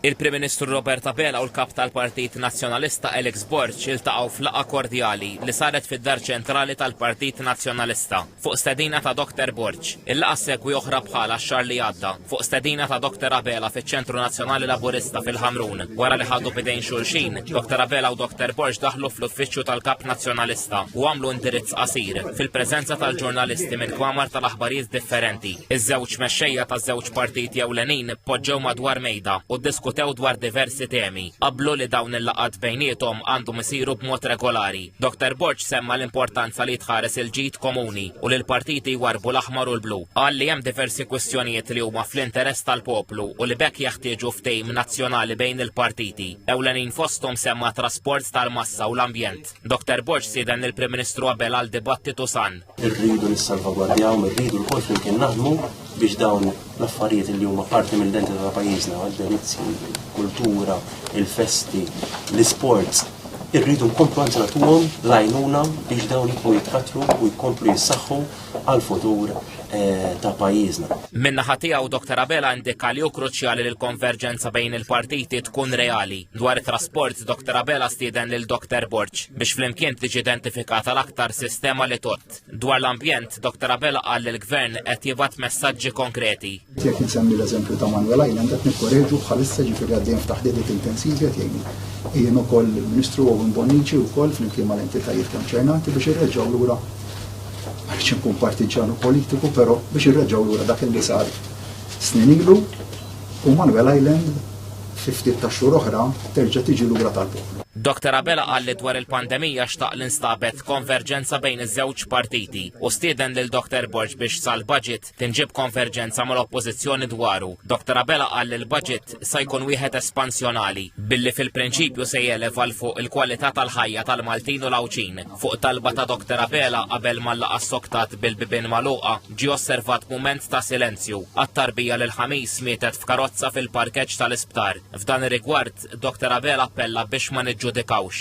Il-Prim Ministru Robert Abela u l-Kap tal-Partit Nazzjonalista Alex Borg iltaqgħu f'laqgħa kordjali li saret fid-Dar Ċentrali tal-Partit Nazzjonalista fuq stedina ta' Dr. Borg. Il-laqgħa ssegwi oħra bħalha x-xahar li għadda fuq stedina ta' Dr. Abela fiċ-Ċentru Nazzjonali Laburista fil-Ħamrun. Wara li ħadu b'idejn xulxin, Dr. Abela u Dr. Borg daħlu fl-uffiċċju tal-Kap Nazzjonalista u għamlu indirizz qasir fil-preżenza tal-ġurnalisti minn kmamar tal-aħbarijiet differenti. Iż-żewġ mexxejja taż-żewġ Partiti ewlenin poġġew madwar mejda u ddiskutew dwar diversi temi. Qablu li dawn il-laqgħat bejniethom għandhom isiru b'mod regolari. Doktor Borg semma l-importanza li jitħares il-ġid komuni u li l-partiti jwarrbu l-aħmar u l-blu. Qal li hemm diversi kwistjonijiet li huma fl-interess tal-poplu u li b'hekk jeħtieġu ftehim nazzjonali bejn il-partiti. Ewlenin fosthom semma t-trasport tal-massa u l-ambjent. Doktor Borg stieden lill-Prim Ministru Abela għal dibattitu san. Irridu nissalvagwardjaw, irridu l-kol flimkien naħdmu biex dawn l-affarijiet li huma parti mill-identità ta' pajjiżna, għad-delizzi, kultura, il-festi, l-isports, irridu nkomplu għanzi natuhom lajnuna biex dawn jibqgħu jitkattru u jkomplu jissaħħu għal-futur eh, ta' pajjiżna. Minna ħatija u Dr. Abela indika li hu kruċjali li l-konverġenza bejn il-partiti tkun reali. Dwar it-trasport, Dr. Abela stieden lil Dr. Borg biex flimkien tiġi identifikata l-aktar sistema li tot. Dwar l-ambjent, Dr. Abela qal li l-Gvern qed jibgħat messaġġi konkreti. Jekk insemmi l-eżempju ta' Manuel Island qed nikkoreġu bħalissa ġifieri għaddejjem f'taħdidiet intensivi qed jgħinu. Jien ukoll il-Ministru Owen Bonnici wkoll flimkien mal-entitajiet konċernati biex irreġgħu lura għaliex inkun partiġġan u politiku, però biex irreġgħu lura dak li sar snin ilu u Manuel Island fi ftit tax-xhur oħra terġa' tiġi lura tal-poplu. Doctor Abela qal li dwar il-pandemija xtaq li nstabet konverġenza bejn iż-żewġ partiti u stieden lil Doctor Borg biex sal-budget tinġib konverġenza mal-oppożizzjoni dwaru. Doctor Abela qal li l-budget sa jkun wieħed espansjonali billi fil-prinċipju se jeleva l fuq il-kwalità tal-ħajja tal-Maltin u l-Għawdxin. Fuq talba ta' Doctor Abela qabel mal-laqgħa soktat bil-bibien magħluqa, Ġie osservat mument ta' silenzju għat-tarbija li l-Ħamis mietet f'karozza fil-parkeġġ tal-isptar. F'dan ir-rigward, Dr Abela appella biex ma niġġudikawx.